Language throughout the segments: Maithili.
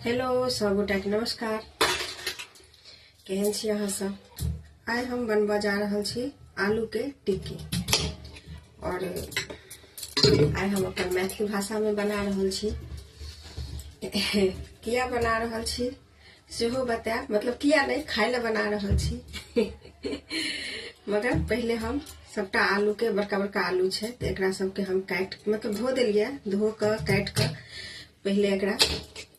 हेलो सभगोटाके नमस्कार केहन छी अहाँ सब आइ हम बनबऽ जा रहल छी आलूके टिक्की आओर आइ हम अपन मैथिली भाषामे बना रहल छी किया बना रहल छी सेहो बतायब मतलब किया नहि खाय लए बना रहल छी मगर पहिले हम सभटा आलूके बड़का बड़का आलू छै तऽ एकरा सभके हम काटि मतलब धो देलियै धो कऽ काटि कऽ पहिले एकरा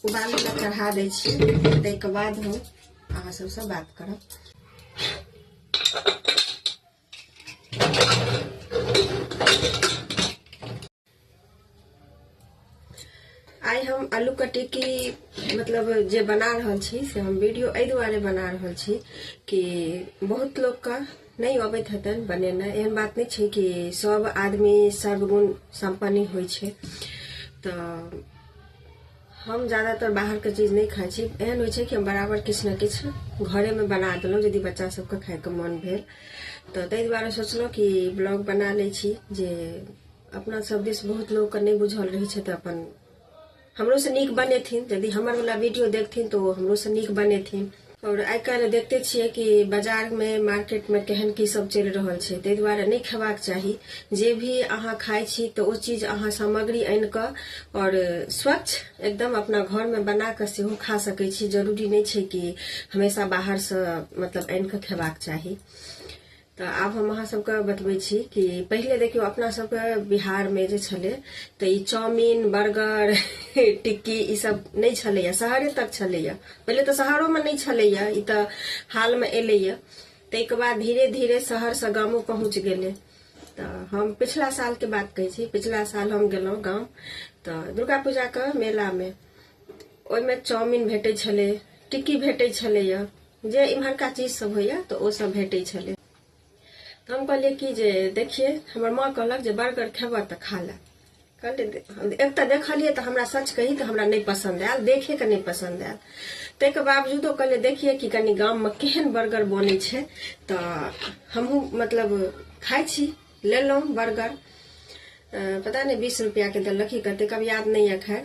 उबालै लए चढ़ा दै छियै ताहिके बाद हम अहाँ सभसँ बात करब आइ हम आलू के टिक्की मतलब जे बना रहल छी से हम वीडियो एहि दुआरे बना रहल छी कि बहुत लोग का नहि अबैत हेतनि बनेना एहन बात नहि छै कि सब आदमी सर्वगुण सम्पन्न होइ छै तऽ हम ज्यादातर बाहरके चीज नहि खाइ छी एहन होइ छै कि हम बराबर किछु ने किछु घरेमे बना देलहुँ यदि बच्चा सबके खाइके मोन भेल तऽ ताहि दुआरे सोचलहुँ कि ब्लॉग बना लै छी जे अपना सब दिस बहुत लोग के नहीं बुझल रही छै तऽ अपन हमरो से नीक बनेथिन यदि हमर वाला वीडियो देखथिन तो हमरो से नीक बनेथिन और आइ काल्हि देखते छियै कि बाजार में मार्केट में केहन की सब चलि रहल छै ताहि दुआरे नहि खेबाक चाही जे भी अहाँ खाइ छी तऽ ओ चीज अहाँ सामग्री आनि कऽ और स्वच्छ एकदम अपना घर में बना कऽ सेहो खा सकै छी जरूरी नहि छै कि हमेशा बाहर से मतलब आनि कऽ खेबाक चाही तऽ आब हम अहाँ सबके बतबै छी कि पहिले देखियौ अपना सबके बिहारमे जे छलै तऽ ई चाउमिन बर्गर टिक्की ई सब नहि छलैए शहरे तक छलैए पहिले तऽ शहरोमे नहि छलैए ई तऽ हालमे एलैए ताहिके बाद धीरे धीरे शहरसँ गामो पहुँच गेलै तऽ हम पिछला सालके बात कहै छी पिछला साल हम गेलहुँ गाम तऽ दुर्गा पूजाके मेलामे ओहिमे चाउमिन भेटै छलै टिक्की भेटै छलैए जे इम्हरका चीज सब होइए तऽ ओ सब भेटै छलै तऽ हम कहलियै कि जे देखिए हमर माँ कहलक जे बर्गर खेबह तऽ खा ले कहलियै एक तऽ देखलियै तऽ हमरा सच कही तऽ हमरा नहि पसन्द आयल देखेके नहि पसन्द आयल ताहिके बावजूदो कहलियै देखिए कि कनि गाममे केहन बर्गर बनै छै तऽ हमहूँ मतलब खाइ छी लेलहुँ बर्गर पता नहि बीस रुपैआके देलक कि कतेक अब याद नहि यऽ खैर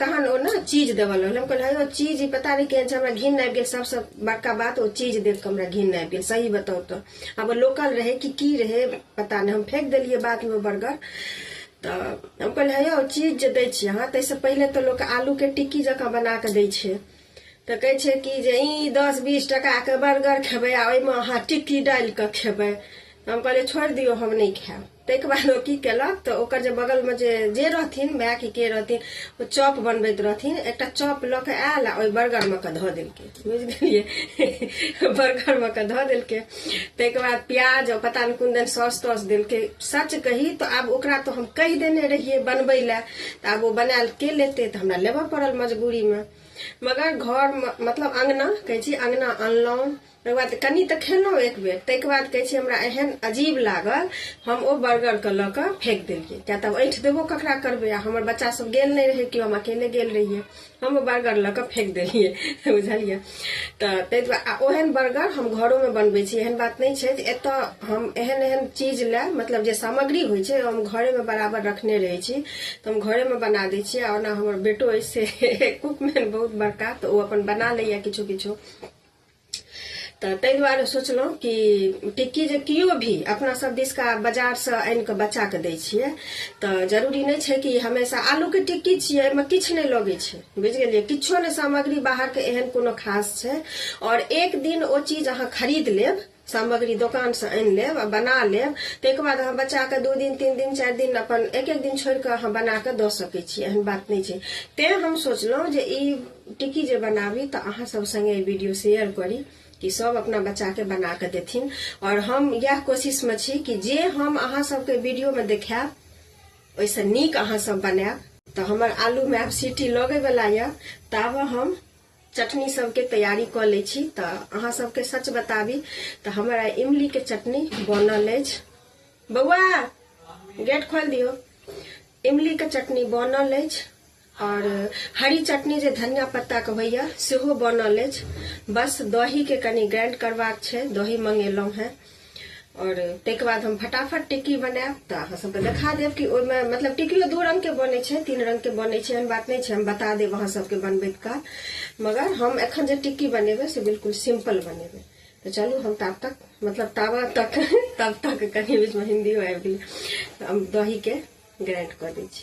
तहन ओ ने चीज देबऽ लगल हम कहलियै "अरे, ओ चीज ई पता नहि केहन छै हमरा घिन आबि गेल सबसँ बड़का बात ओ चीज देख कऽ हमरा घिन आबि गेल सही बताउ तऽ आब ओ लोकल रहै कि की रहै पता नहि हम फेंक देलियै बादमे ओ बर्गर तऽ हम कहलियै "हे यौ चीज जे दै छी अहाँ ताहिसँ पहिले तऽ लोक आलूके टिक्की जकाँ बना कऽ दै छै तऽ कहै छै कि जे ई दस बीस टाकाके बर्गर खेबै आ ओहिमे अहाँ टिक्की डालि कऽ खेबै तऽ हम कहलियै छोड़ि दियौ हम नहि खायब ताहिके बाद ओ की केलक तऽ ओकर जे बगलमे जे जे रहथिन माय कि के रहथिन ओ चॉप बनबैत रहथिन एकटा चॉप लऽ कऽ आयल आ ओहि बर्गरमे कऽ धऽ देलकै बुझि गेलियै बर्गरमे कऽ धऽ देलकै ताहिके बाद प्याज आ पता नहि कोन दिन सॉस तॉस देलकै सच कही तऽ आब ओकरा तऽ हम कहि देने रहियै बनबै लए तऽ आब ओ बनायल के लेतै तऽ हमरा लेबऽ पड़ल मजबूरीमे मगर घरमे मतलब अङ्गना कहै छी अङ्गना अनलहुँ तकर बाद कनि तऽ खेलहुँ एक बेर ताहिके बाद कहै छै हमरा एहन अजीब लागल हम ओ बर्गरके लऽ कऽ फेंक देलियै किया तऽ ऐठ देबो ककरा करबै आ हमर बच्चा सब गेल नहि रहै केओ हम अकेले गेल रहियै हम ओ बर्गर लऽ कऽ फेंक देलियै बुझलियै तऽ ताहि दुआरे आ ओहन बर्गर हम घरोमे बनबै छी एहन बात नहि छै जे एतऽ हम एहन एहन चीज लए मतलब जे सामग्री होइ छै हम घरेमे बराबर रखने रहै छी तऽ हम घरेमे बना दै छियै आ ओना हमर बेटो अछि से कुकमैन बहुत बड़का तऽ ओ अपन बना लैया किछो किछो तऽ ताहि दुआरे सोचलहुँ कि टिक्की जे केओ भी अपना सब दिसका बाजारसँ आनि कऽ बच्चाके दै छियै तऽ जरूरी नहि छै कि हमेशा आलूके टिक्की छियै एहिमे किछु नहि लगै छै बुझि गेलियै किछो नहि सामग्री बाहरके एहन कोनो खास छै आओर एक दिन ओ चीज अहाँ खरीद लेब सामग्री दोकान से आनि लेब आ बना लेब ताहिके बाद अहाँ बच्चाके दू दिन तीन दिन चारि दिन अपन एक एक दिन छोड़ि कऽ अहाँ बना कऽ दऽ सकै छी एहन बात नहि छै तैँ हम सोचलहुँ जे ई टिक्की जे बनाबी तऽ अहाँ सब सङ्गे ई वीडियो शेयर करी कि सब अपना बच्चाके बना कऽ देथिन आओर हम इएह कोशिशमे छी कि जे हम अहाँ सबके वीडियोमे देखायब ओहिसँ नीक अहाँ सब बनायब तऽ हमर आलूमे आब सीटी लगैवला यए ताबे हम चटनी सबके तैयारी कऽ लै छी तऽ अहाँ सबके सच बताबी तऽ हमर आइ इमलीके चटनी बनल अछि बौआ गेट खोलि दियौ इमलीके चटनी बनल अछि आओर हरी चटनी जे धनिया पत्ताके होइए सेहो बनल अछि बस दहीके कनि ग्राइंड करबाक छै दही मंगेलहुँ हेँ और तक बाद हम फटाफट टिक्की बनायब तऽ अहाँ सबके देखा देव कि ओहिमे मतलब टिक्कियो दू रंग के बने छै तीन रंग के बने छै एहन बात नहीं छै हम बता देव अहाँ सबके बनबैत काल मगर हम एखन जे टिक्की बनेबे से बिल्कुल सिंपल बनेबे तो चलू हम तब तक मतलब ताबा तक तब तक कहीं बीच में हिंदी हो आबि गेलै हम दही के ग्राइंड कर दी छी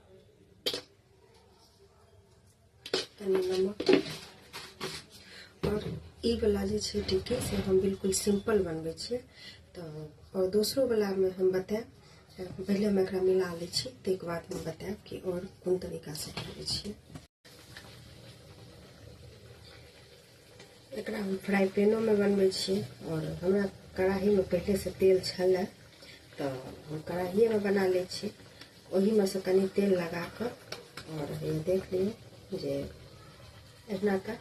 ई वाला जे छै टिक्की से हम बिल्कुल सिंपल बनबै छियै तऽ आओर दोसरो वालामे हम बतायब पहिले हम एकरा मिला लै छी ताहिके बाद हम बतायब कि आओर कोन तरीकासँ बनबै छियै एकरा हम फ्राई पैनोमे बनबै छी आओर हमरा कढ़ाहीमे पहिलेसँ तेल छलै तऽ हम कढ़ाहिएमे बना लै छी ओहिमे सँ कनि तेल लगा कऽ आओर हइया देख लियौ जे एहिना कऽ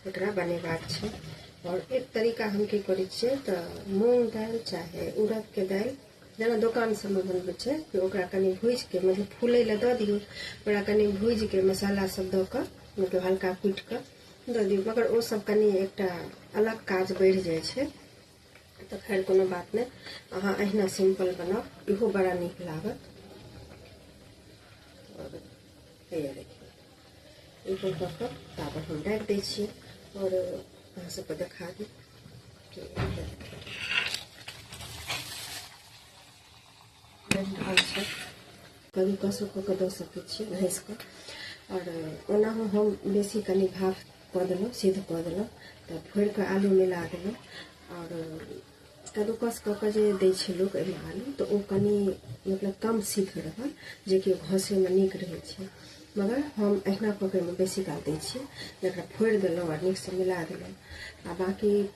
एकरा बनेबाक छै आओर एक तरीका हम की करै छियै तऽ मूंग दालि चाहे उड़दके दालि जेना दोकान सभमे बनबै छै कि ओकरा कनि भूजि कऽ मतलब फूलै लए दऽ दियौ ओकरा कनि भूजि कऽ मसाला सभ दऽ कऽ मतलब हल्का कुटि कऽ दऽ दियौ मगर ओ सब कनि एकटा अलग काज बढ़ि जाइ छै तऽ खैर कोनो बात नहि अहाँ अहिना सिंपल बनाउ इहो बड़ा नीक लागत आओर हैया देखियौ इहो कऽ कऽ ताबत हम राखि दै छियै आओर अहाँ सबके देखा दी बनि रहल छै कभी कसो कऽ कऽ दऽ सकैत छियै घसि कऽ आओर ओनाहु हम बेसी कनि भाफ कऽ देलहुँ सिद्ध कऽ देलहुँ तऽ भरि कऽ आलू मिला देलहुँ आओर कद्दूकस कऽ कऽ जे दै छै लोक एहिमे आलू तऽ ओ कनि मतलब कम सिद्ध रहल जेकि घसैमे नीक रहै छै मगर हम अहिना कऽ कऽ एहिमे बेसी काल दै छियै जकरा फोड़ि देलहुँ आओर नीकसँ मिला देलहुँ आ बाँकी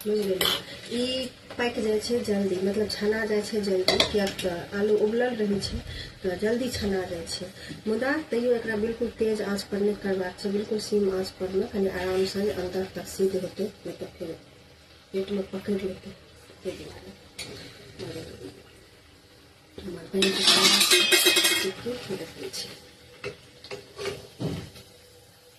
बुझि गेलियै ई पाकि जाइ छै जल्दी मतलब छना जाइ छै जल्दी किएक तऽ आलू उबलल रहै छै तऽ जल्दी छना जाइ छै मुदा तैयो एकरा बिल्कुल तेज आँच पर नहि करबाक छै बिल्कुल सीम आँच पर मे कनि आराम से अंदर तक सिद्ध हेतै नहि तऽ फेर पेट मे पकड़ि लेतै ताहि दुआरे हमर बनि देखै छै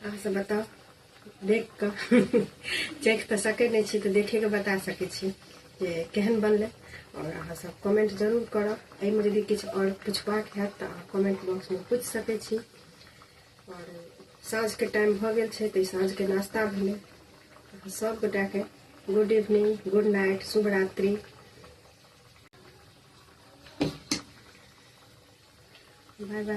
अहाँ सब बताउ देख कऽ चेक तऽ सकै नहि छी तऽ देखिके बता सकै छी जे केहन बनलै आओर अहाँ सब कमेंट जरूर करब एहिमे यदि किछु आओर पुछबाक हैत तऽ अहाँ कमेंट बॉक्समे पूछि सकै छी आओर साँझके टाइम भऽ गेल छै तऽ साँझके नाश्ता भेलै सभगोटाके गुड इवनिंग गुड नाइट शुभ रात्रि बाय बाय